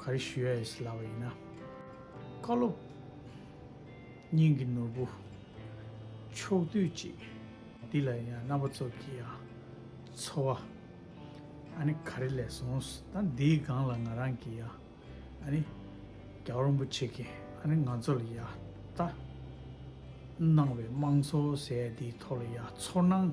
ག་རེ་ཞུ་ཡ་ཡིས་ལབ་པ་ཡིན་ན། བཀའ་སློབ་སྙིང་གི་ནོར་བུ་ཕྱོགས་བསྡུས་ཅིག་འདི་ལ་ཡང་རྣམ་པ་ཚོགས་ཀྱི་ཡང་འཚོ་བ་ཨ་ནི་ག་རེ་ལས་སོང་ད་འདིའི་སྒང་ལ་ང་རང་གི་ཡང་ཨ་ནི་རྒྱ་བ་རིན་པོ་ཆེ་གིས་ཨ་ནི་ང་ཚོ་ལ་ཡང་ད་གནང་བའི་དམངས་འཚོ་ཟེར་ཡ་འདིའི་ཐོག་ལ་ཡང་ཚོར་སྣང་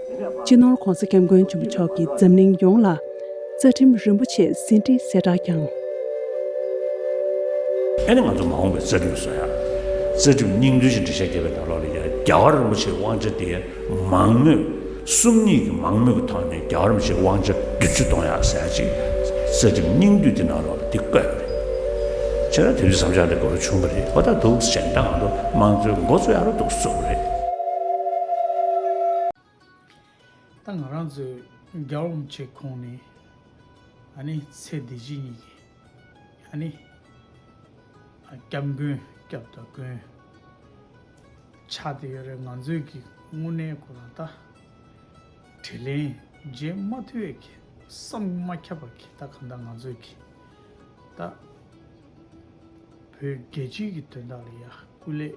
སྤྱི་ནོར ྋགོང་ས ྋསྐྱབས་མགོན་ཆེན་པོ་མཆོག་གིས་འཛམ་གླིང་ཡོངས་ལ་རྩ་ཁྲིམས་རིན་པོ་ཆེ་ཟིན་བྲིས་གསལ་བསྒྲགས་བསྐྱངས། ཨ་ནི་ང་ཚོ་མ་འོངས་པའི་རྩ་ཁྲིམས་བཟོ་ཡ། རྩ་ཁྲིམས་སྙིང་དོན་ཅན་བྲི་བྱ་རྒྱལ་བའི་ནང་ལོགས་ལས་ཀྱང་རྒྱ་གར་རིན་པོ་ཆེའི་དབང་ཆ་དེ་མང་མོད། སུམ་གཉིས་ཀྱི་མང་མོས་ཀྱི་ཐོག་ནས་རྒྱ་གར་རིན་པོ་ཆེའི་དབང་ཆ་བདུན་ཅུ་གཏོང་ཡ་ཟེར་ཡ་ཅིག་རྩ་ཁྲིམས་སྙིང་བསྡུས་དེ་ནང་ལོགས། འདི་བཀོད་པ་རེད། ཁྱེད་རང་དེ་རིང་བསམ་འཆར་འདི་འགོ་རུ་ཕྱུང་གི་རེད་ཁོ་ཐག་འདུག་གཞན་དག་ང་ཚོ་དམངས་གཙོའི་མགོ་གཙོ་ཡག་རུ་འདུག་བཟོ་གི་རེད། ད་ང་རང་ཚོས་རྒྱ་རོམ་བྱེད་ཁོངས་ནི་ཨ་ནི་ཚེ་བདེ་སྐྱིད་གཉིས་ཀྱི་ཨ་ནི་སྐྱབས་མགོན་སྐྱབས་དང་མགོན་ཆགས་དེ་ཡོད་རེད་ང་ཚོས་ཀྱི་དངོས་གནས་གོ་ར་ད། དྲིས་ལན། རྗེས་མ་ཐོས་ཁྱེད་བསམ་མ་ཁྱབ་པ་ཁྱེད་ལྟ་གང་ལྟ་ང་ཚོས་ཀྱི་ལྟ། བོད་རྒྱལ་སྤྱིའི་གི་དོན་དག་ལ་ཡ་སྐུ་ལས།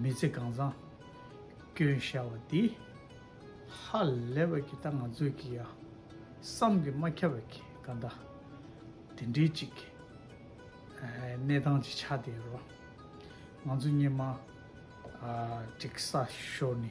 མི་ཚེ་གང་བཟང་སྐྱོན་ཤར་བ་འདི། ཧ་ལས་པ་ཁྱེད་ལྟ་ང་ཚོས་ཀྱི་ཡ། བསམ་གི་མ་ཁྱབ་པ་ཁྱེད་གང་ལྟ། དེ་འདྲའི་ཅིག་གནས་སྟངས་ཅིག་ཆགས་བསྡད་རོགས། ང་ཚོ་སྙེ་མ། དྲེག་ས་ཤོར་ནི།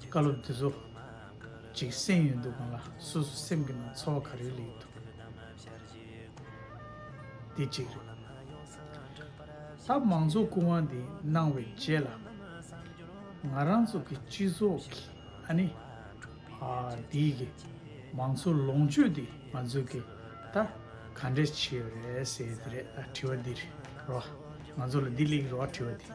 བཀའ་སློབ་འདི་ཚོ་གཅིག་གསན་ཡོད་འདུག་གང་ལ་སོ་སོ་སེམས་ཀྱི་ནང་ཚོར་བ་ག་རེ་ལ་ཡོད་འདུག་འདི་གཅིག་རེད། ད་མང་གཙོ་སྐུ་དབང་འདི་གནང་བའི་རྗེས་ལ་ང་རང་ཚོ་གི་སྤྱི་ཚོགས་ཀྱི་ཨ་ནི་འདི་གི་མང་གཙོ་ལོངས་སྤྱོད་འདི་ང་ཚོ་གི་ད་ག་འདྲས་བྱས་ཡོད་རེད་ཟེར་ཡོད་རེད་ད་དྲི་བ་འདི་རེད་རོ། ང་ཚོ་ལ་འདི་ལེགས་རེད་རོ་དྲི་བ་འདི།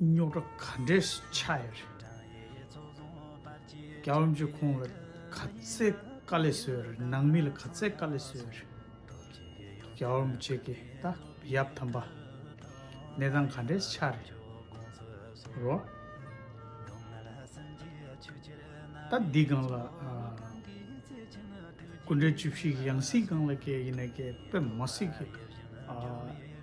རྙོག་དྲ་ག་འདྲས་སུ་ཆགས་ཡོད་རེད། རྒྱ་ལམ་གྱིས་ཁོང་ལ་ག་ཚད་དཀའ་ལས་བཟོས་ཡོད་རེད་ནང་མི་ལ་ག་ཚད་དཀའ་ལས་བཟོས་ཡོད་རེད། རྒྱ་ལམ་བཅས་ཀྱི་ད་ཡབ་དམ་པ། གནས་སྟངས་ག་འདྲས་སུ་ཆགས་རེད། རོ། ད་འདི་སྒང་ལ། སྐུ་འདྲ་བཅུ་བཞི་ཡི་ཡང་སྲིད་སྒང་ལ་སྐྱེས་ཡིན་ན་སྐྱེས་དཔེ་མ་སྲིད་ཀྱི།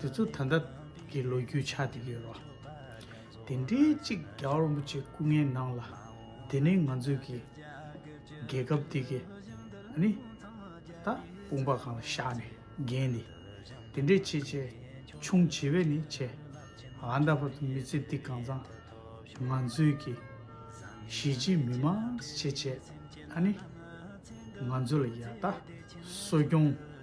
དེ་ཚོ་ད་ལྟ་གི་ལོ་རྒྱུས་ཆགས་ཏེ་ཡོད་རོ། དེ་འདྲའི་ཅིག་རྒྱ་རོན་པོ་ཆེ་སྐུ་ངལ་ནང་ལ་དེ་ནི་ང་ཚོས་ཀྱི་རྒྱལ་ཁབ་དེ་གི་ཨ་ནི་ད་དཔུང་པ་གང་ལ་བཞག་ནས་རྒན་ནི་དེ་འདྲའི་ཆེ་ཆེ་ཆུང་བྱེད་བས་ནི་ཆེ་ཨ་ད་བར་དུ་མི་ཚེ་འདི་གང་ཙང་ང་ཚོས་ཀྱི་གཞིས་བྱེས་མི་མང་ཆེ་ཆེ་ཨ་ནི་ང་ཚོ་ལ་ཡ་ད་གསོ་སྐྱོང།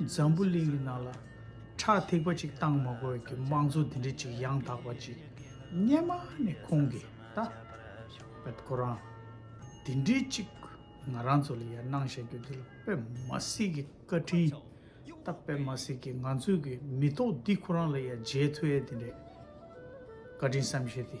འཛམ་བུ་གླིང་གི་ནང་ལ་ཁྲག་ཐིགས་པ་ཅིག་བཏང་མ་དགོས་ཀྱི་དམངས་གཙོ་འདི་འདྲ་ཅིག་ཡང་དག་པ་ཅིག་རྙེད་མ་ནི་ཁོང་གི་ད་བོད་ཁོ་རང་འདི་འདྲའི་ཅིག་ང་རང་ཚོ་ལ་ཡར་གནང་བཞག་རྒྱུ་འདི་ལ་དཔེ་མ་སྲིད་ཀྱི་བཀའ་དྲིན་ད་དཔེ་མ་སྲིད་ཀྱི་ང་ཚོས་ཀྱི་མི་ཐོག་འདི་ཁོ་རང་ལ་ཡར་མཇལ་ཐུ་ཨེ་འདི་འདྲའི་བཀའ་དྲིན་བསམ་ཤེས་དེ།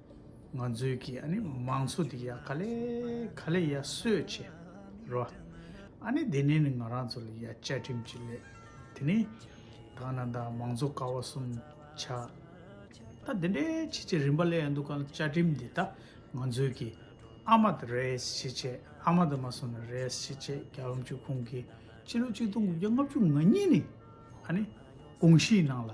ང་ཚོའི་གི་ཨ་ནི་མང་ཚོགས་དེ་ཡ་ག་ལས་ག་ལས་ཡ་གསོད་ཆེ་རོ། ཨ་ནི་དེ་ནས་ནི་ང་རང་ཚོ་ལ་ཡ་བཅའ་ཁྲིམས་ཅིག་ལས་དེ་ནི་ད་ང་ནང་ད་མང་ཚོགས་ཀ་བ་གསུམ་ཆ་ད་དེ་འདྲའི་ཆེ་ཆེ་རིན་པ་ལས་ཡ་འདུག་ག་ལ་བཅའ་ཁྲིམས་དེ་ད་ང་ཚོའི་གི་ཨ་མ་ད་རེས་ཆེ་ཆེ་ཨ་མ་ད་མ་སོང་ན་རེས་ཆེ་ཆེ་རྒྱ་ལོ་མཆོད་ཁུང་གི་སྤྱི་ལོ་གཅིག་སྟོང་དགུ་བརྒྱ་ལྔ་བཅུ་ང་གཉིས་ནི་ཨ་ནི་ཀོང་ཤིའི་ནང་ལ།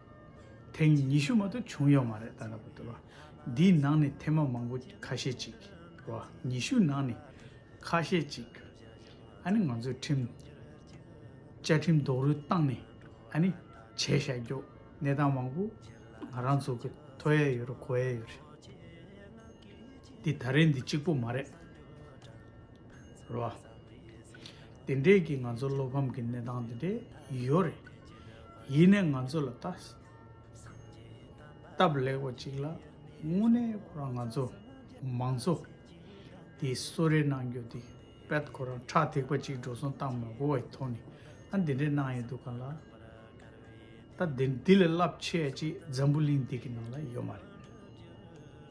ཐེངས་ཉི་ཤུ་མ་གཏོགས་བྱུང་ཡོད་མ་རེད་ད་ལྟ་བུ་དེ། འདིའི་ནང་ནས་ཐེངས་མ་མང་པོ་ཁ་ཤས་ཅིག་རེད། ཉི་ཤུ་ནང་ནས་ཁ་ཤས་ཅིག། ཨ་ནི་ང་ཚོའི་ཁྲིམས། བཅའ་ཁྲིམས་རྡོག་རོལ་བཏང་ནས་ཨ་ནི་བྱས་བཞག་རྒྱོག་གནས་སྟངས་མང་པོ་ང་རང་ཚོ་གི་ཐོ་ཡས་ཡོད་རེད་གོ་ཡས་ཡོད་རེད། འདི་ད་རེས་འདི་གཅིག་པོ་མ་རེད། རེད་བ། དེ་འདྲས་ཀྱི་ང་ཚོ་བློ་ཕམ་གྱི་གནས་སྟངས་དེ་འདྲས་ཡོད་རེད། ཡིན་ནས་ང་ཚོ་ལ་ལྟ། སྟབས་ལེགས་པ་ཅིག་ལ་དངོས་གནས་ཁོ་རང་ང་ཚོ་མང་ཚོ་དེ་གསོད་རེས་གནང་རྒྱུ་དེ་དཔེད་ཁོ་རང་ཁྲག་ཐིགས་པ་ཅིག་འགྲོ་སོང་གཏང་མི་དགོས་བའི་ཐོག་ནས་ཨ་འདི་འདྲས་གནང་ཡོད་འདུག་ག་ལ། ད་འདི་ལས་རླབས་ཆེ་ཅིག་འཛམ་བུ་གླིང་འདི་གི་ནང་ལ་ཡོད་མ་རེད།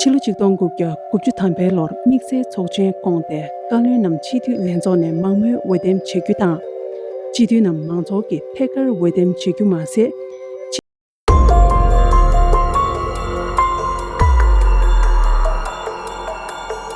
ཕྱི་ལོ་ཆིག་སྟོང་དགུ་བརྒྱ་དགུ་བཅུ་ཐམ་པའི་ལོར་དམིགས་བསལ་ཚོགས་ཆེན་བསྐོངས་ཏེ་བཀའ་བློན་རྣམས་སྤྱི་འཐུས་ལྷན་ཚོགས་ནས་མང་མོས་འོས་འདེམས་བྱེད་རྒྱུ་དང། སྤྱི་འཐུས་རྣམས་མང་ཚོགས་ཀྱིས་ཐད་ཀར་འོས་འདེམས་བྱེད་རྒྱུ་མ་ཟད།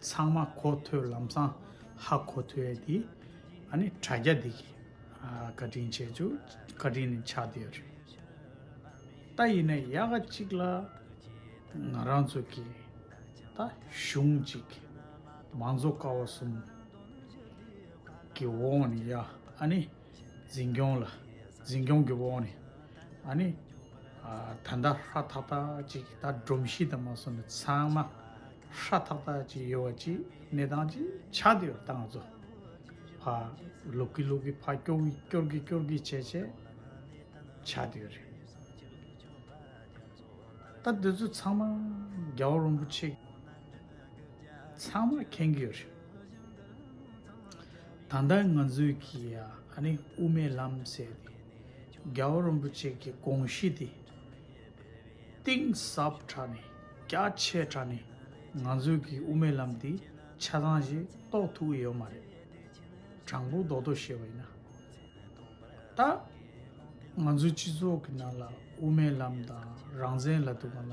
ཚང་མ་གོ་ཐོས་ལམ་སང་ཧ་གོ་ཐོས་དེ་ཨ་ནི་དྲ་རྒྱ་འདི་གི་བཀའ་དྲིན་ཆེ་ཆུ་བཀའ་དྲིན་ནི་ཆགས་བསྡད་རེད་ད་ཡིན་ན་ཡག་ག་གཅིག་ལ་ང་རང་ཚོ་གི་ད་གཞུང་ཅིག་མང་གཙོ་ཀ་བ་གསུམ་གི་འོག་ནས་ཡ་ཨ་ནི། འཛིན་སྐྱོང་ལ་འཛིན་སྐྱོང་གི་འོག་ནས་ཨ་ནི་ད་ལྟ་ཧྲ་ཐག་ཐག་ཅིག་ད་སྒྲོམ་གཞི་དང་མ་སོང་ནས་ཚང་མ་ཧྲ་ཐག་ཐག་ཅིག་ཡོད་བ་ཅིག་གནས་སྟངས་ཅིག་ཆགས་འདི་ཡོད་ད་ང་ཚོ་ཕ་ལུག་གི་ལུག་གི་ཕ་སྐྱོ་གི་སྐྱོར་གི་སྐྱོར་གི་བྱས་བྱས་ཆགས་འདི་ཡོད་རེད་ད་འདི་ཚོ་ཚང་མ་རྒྱལ་བ་རིན་པོ་ཆེ་ཚང་མ་མཁྱེན་གྱི་ཡོད་རེད། ད་ལྟ་ང་ཚོས་ཀྱིས་ཨ་ནི་དབུ་མའི་ལམ་ཟེར་ཏེ་རྒྱལ་བ་རིན་པོ་ཆེ་ཀྱི་དགོངས་གཞི་དེ་གཏིང་ཟབ་དྲགས་ནས་རྒྱ་ཆེ་དྲགས་ནས་ང་ཚོས་ཀྱིས་དབུ་མའི་ལམ་དེའི་ཆ་ཚང་ཞིག་རྟོགས་ཐུབ་ཀྱི་ཡོད་མ་རེད། དྲང་པོ་རྡོག་རྡོག་བཤད་པ་ཡིན་ན། ད་ང་ཚོའི་སྤྱི་ཚོགས་ཀྱི་ནང་ལ་དབུ་མའི་ལམ་དང་རང་བཙན་ལ་དུ་མ་ལ།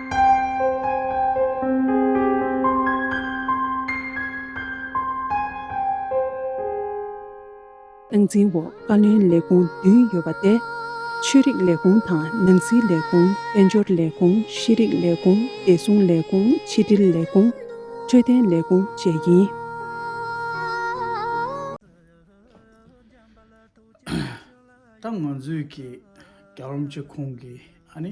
སྟངས་འཛིན་འོག་བཀའ་བློན་ལས་ཁུངས་བདུན་ཡོད་པ་སྟེ། ཆོས་རིག་ལས་ཁུངས་དང་ནང་སྲིད་ལས་ཁུངས་དཔལ་འབྱོར་ལས་ཁུངས་ཤེས་རིག་ལས་ཁུངས་བདེ་སྲུང་ལས་ཁུངས་ཕྱི་དྲིལ་ལས་ཁུངས་འཕྲོད་བསྟེན་ལས་ཁུངས་བཅས་ཡིན། ད་ང་ཚོས་ཀྱི་རྒྱ་རོམ་གྱི་ཁོང་གི་ཨ་ནེ།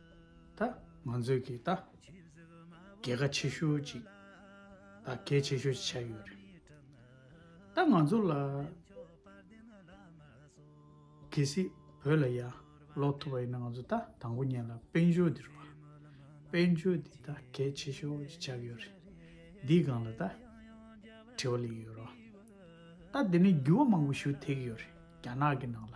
ད། ང་ཚོས་ཀྱིས་ད། རྒྱལ་ཁ་ཆེ་ཤོས་ཅིག་ད་གལ་ཆེ་ཤོས་ཆགས་ཡོད་རེད། ད་ང་ཚོ་ལ། གལ་སྲིད་བོད་ལ་ཡར་ལོག་ཐུབ་པ་ཡིན་ན་ང་ཚོ་ད་དང་པོ་ཉན་ལ་དཔལ་འབྱོར་འདིར་བ། དཔལ་འབྱོར་འདི་ད་གལ་ཆེ་ཤོས་ཅིག་ཆགས་ཡོད་རེད། འདིའི་སྒང་ལ་ད། དྲི་བ་ལེགས་ཡོད་རོ། ད་འདི་ནས་འགྱུར་བ་མང་པོ་ཞུ་ཐེག་ཡོད་རེད་རྒྱ་ནག་གི་ནང་ལ།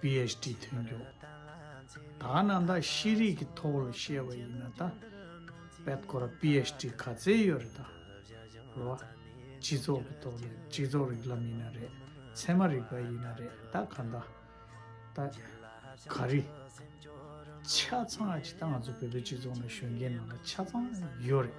PHD ཐོན་མགྱོགས། ད་ནང་ད་ཤེས་རིག་གི་ཐོག་ལ་བཤད་པ་ཡིན་ན་ད་བད་ཁོ་ར PHD ག་ཚད་ཡོད་རེད་ད་རེད་བ། སྤྱི་ཚོགས་ཀྱི་ཐོག་ལ་སྤྱི་ཚོགས་རིག་ལམ་ཡིན་ན་རེད་ཚད་མ་རིག་པ་ཡིན་ན་རེད་ད་ག་ད་ད་ག་རེད། ཆ་ཚང་ཨ་ཅི་ད་ང་ཚོ་བོད་པའི་སྤྱི་ཚོགས་ནང་གཞོན་སྐྱེས་ནང་ལ་ཆ་ཚང་ཡོད་རེད།